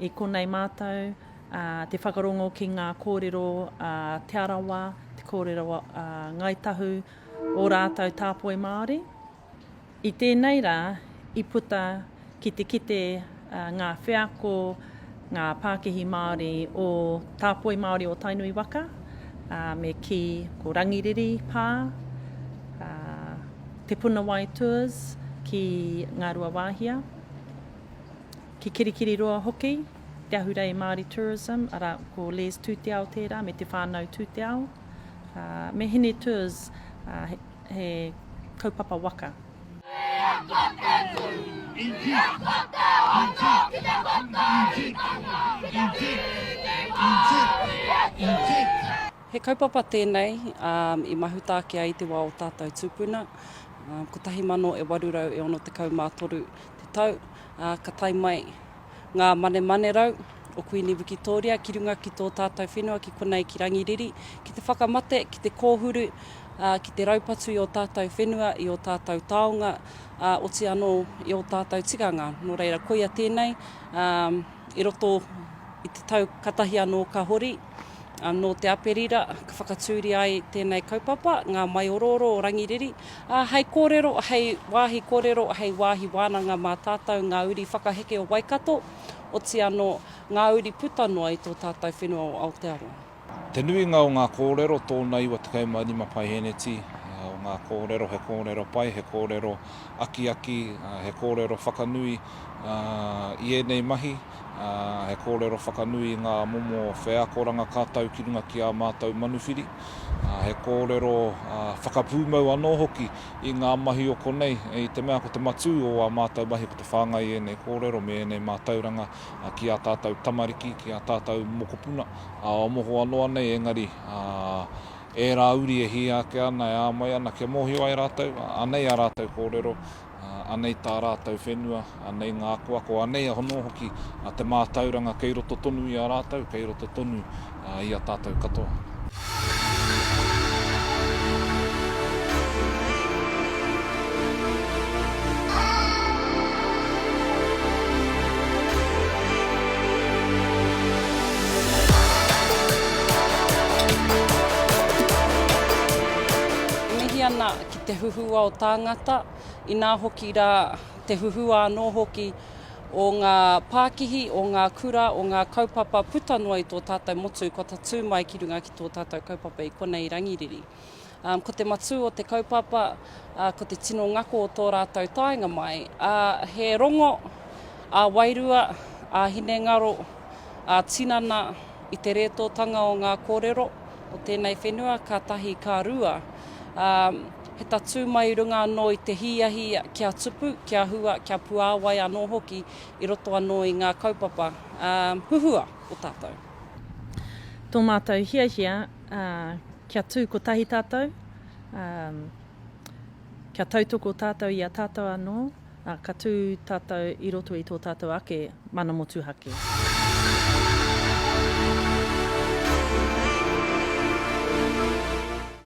I konei mātou te whakarongo ki ngā kōrero a Te Arawa, te kōrero a Ngāi Tahu, o rātou tāpoi Māori. I tēnei rā, i puta ki te kite ngā wheako, ngā pākihi Māori o tāpoi Māori o Tainui waka, me kī ko Rangiriri pā, Te Puna Wai Tours ki Ngāruawāhia. Ki Kirikiriroa hoki, Te Ahurei Māori Tourism, arā, ko Les Tūteao tērā me Te Whānau Tūteao, ā, me Hine Tours, ā, he, he kaupapa waka. Ia ko te tū, ia ko te hono ki te whakaaetanga, ki te whīni Māori e kīia. He kaupapa tēnei i mahutāke ai te wā o tātou tūpuna. 1863 te tau, ā, ka tae mai ngā manemanerau o Kuini Wikitōria ki runga ki tō tātou whenua ki konei ki Rangiriri, ki te whakamate, ki te kōhuru, ā, ki te raupatu i ō tātou whenua, i ō tātou taonga, ā, oti anō i ō tātou tikanga. Nō reira, koia tēnei, ā, i roto i te tau katahi anō ka hori. Nō Te Aperira ka whakatūria ai tēnei kaupapa, ngā maiorooro o Rangiriri, ā, hei kōrero, hei wāhi kōrero, hei wāhi wānanga mā tātou ngā uri whakaheke o Waikato, oti anō, ngā uri puta noa i tō tātou whenua o Aotearoa. Te nuinga o ngā kōrero tōna 95 paeheneti o ngā kōrero, he kōrero pai, he kōrero akiaki, he kōrero whakanui i ēnei mahi. He kōrero whakanui i ngā momo wheakoranga ka tau ki runga ki ā mātou manuwhiri. He kōrero whakapūmau anō hoki i ngā mahi o konei, i te mea ko te matū o ā mātou mahi ko te whāngai i ēnei kōrero me ēnei mātauranga ki ā tātou tamariki, ki ā tātou mokopuna o moho anō anei engari ērā uri e hia ake ana, e āmai ana kia mōhio ai rātou, anei ā rātou kōrero. Anei tā rātou whenua, anei ngā akoako, anei a hono hoki te mātauranga kei roto tonu i a rātou, kei roto tonu i a tātou katoa. te huhua o tāngata, inā hoki rā te huhua anō hoki o ngā pākihi, o ngā kura, o ngā kaupapa puta noa i tō tātou motu kua tatū mai ki runga ki tō tātou kaupapa i konei rangiriri. Um, ko te matū o te kaupapa, uh, ko te tino ngako o tō rātou taenga mai, uh, he rongo, a uh, wairua, a uh, hinengaro, a uh, tinana, I te rētōtanga o ngā kōrero o tēnei whenua ka tahi ka rua, ā, he tatū mai i runga anō i te hīahi kia tupu, kia hua, kia puāwai anō hoki i roto anō i ngā kaupapa, ā, huhua o tātou. Tō mātou hiahia, ā, kia tū kotahi tātou, ā, kia tautoko tātou i a tātou anō. Ā, ka tū tātou i roto i tō tātou ake mana motuhake.